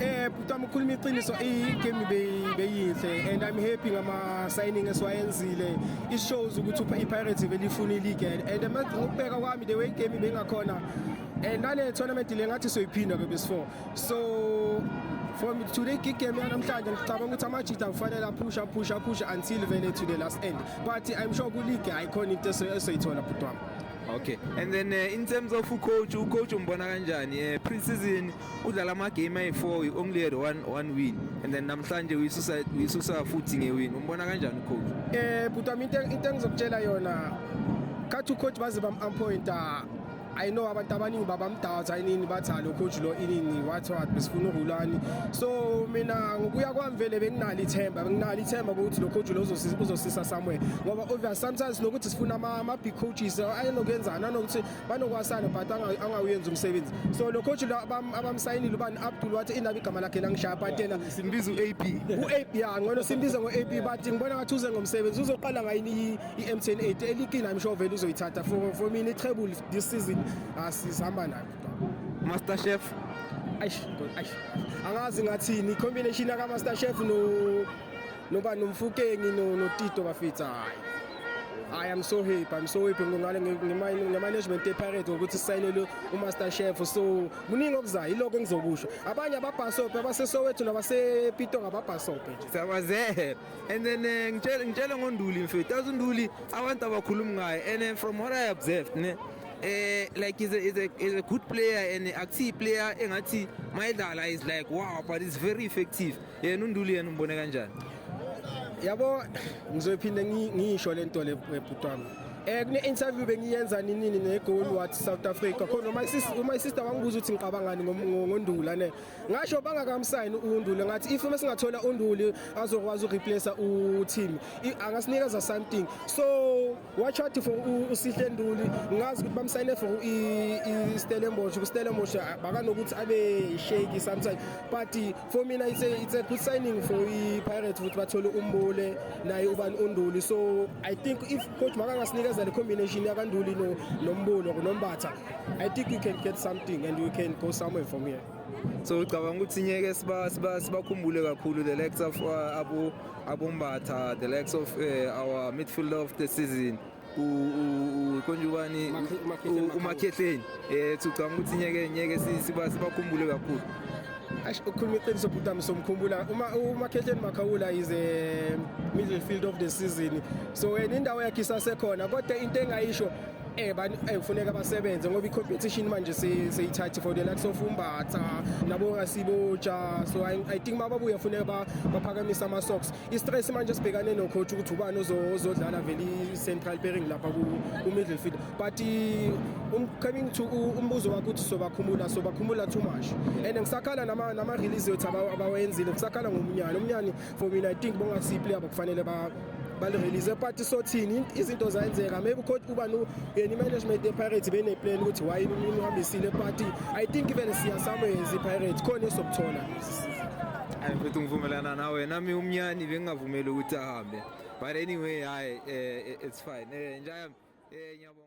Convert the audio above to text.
Eh bhuti wami ukhuluma iqiniso i-game beyinhle and I'm happy ngama-signing esiwayenzile it shows ukuthi i-pirates belifuna i-league and ngokubheka kwami the way i-game bengakhona and nale tournament le ngathi soyiphinda ke besifour so from today gig game yanamhlanje ngicabanga ukuthi amajita kufanele aphusha aphusha aphusha until vele to the last end but i'm sure kuleague ayikhona into esoyithola bhuti wami okay and then uh, in terms of ucoach ucoach umbona kanjani um pre-season udlala amagame ayi-four only had one, one win and then namhlanje uyisusa futhi ngewin umbona kanjani ucoach um eh, bhutami into engizokutshela yona khathi ucoach baze bam-ampointa I know abantu abaningi babamdawutha inini bathi lo coach lo inini what what besifuna uRulani so mina ngokuya kwami vele benginalo ithemba benginalo ithemba ukuthi lo coach lo uzosisa somewhere ngoba obvious sometimes nokuthi sifuna ama big coaches ayenokwenzana nokuthi banokwasana but angawuyenzi umsebenzi so lo coach abamsayinile ubani abdul wathi indaba igama lakhe langishaya but yena simbiza u-ab u-ab ya ngcono simbize ngo-ab but ngibona ngathi uze ngomsebenzi uzoqala ngayini i-mtn 8 elikini i'm sure vele uzoyithatha for, for mina i-treble this season asihamba ah, nayo master chef angazi ngathini i-combination yakamaster chef no noba nomfukengi notito bafitha hayi I am so happy. I'm so happy ngale ngemanagement ePirates ngokuthi sisayinele uMaster Chef. So muningi okuzayo iloko engizokusho. Abanye ababhasope abaseSoweto nabasePito ngababhasope nje. Siyabazela. And then eh, ngitshela ngitshela ngoNduli mfethu. Azu Nduli abantu abakhulumi ngaye and eh, from what I observed ne eh like is a is a is a good player and a key player engathi mayidlala is like wow but it's very effective yena unduli yena umbone kanjani yabo ngizophinde ngisho le nto le bhuti wami eh kune interview bengiyenza nini ne goal what South Africa khona my sister my sister wangibuza ukuthi ngicabangani ngondula ne ngasho bangakamsayini undule ngathi if uma singathola unduli azokwazi ureplace u team angasinikeza something so watch out for usihle nduli ngazi ukuthi bamsayine for istellenbosch kustellenbosch bakanokuthi abe shake sometimes but for mina it's a, it's a good signing for i-pirates ukuthi bathole umbule naye ubani unduli so i think if coach makangasinikeza le combination yakanduli no, nombulo nombatha i think you can get something and you can go somewhere from here so ucabanga ukuthi nyeke sibakhumbule kakhulu the likes of uh, abombatha the likes of uh, our midfielder of the season konjubani umakhehleni um ucabanga ukuthi nyeke nyeke sibakhumbule kakhulu ukhuluma iqiniso bhuti ami somkhumbula umakhehleni makhawula is a middle field of the season so wena indawo yakhe isasekhona kodwa into engayisho eh bani eh kufuneka basebenze ngoba i-competition manje seyithathi for the likes of umbatha nabo ngasiboja so i, I think mababuye kufuneka baphakamise ama-socks i-stress manje sibhekane nocoach ukuthi ubani ozodlala vele i-central pairing lapha ku-middle field but um, coming to umbuzo wakho ukuthi sobakhumula sobakhumula too much and ngisakhala nama-release yethu abawenzile ngisakhala ngomnyana umnyana for mina i think bongasi player bakufanele ba balirelease party sothini izinto zayenzeka maybe ucoach uba no yena management yePirates bene plan ukuthi why imini uhambisile party i think even siya somewhere is iPirates khona esokuthola hayi mfethu ngivumelana nawe nami umnyani bengingavumeli ukuthi ahambe but anyway hayi eh, eh, it's fine eh njaya eh ngiyabonga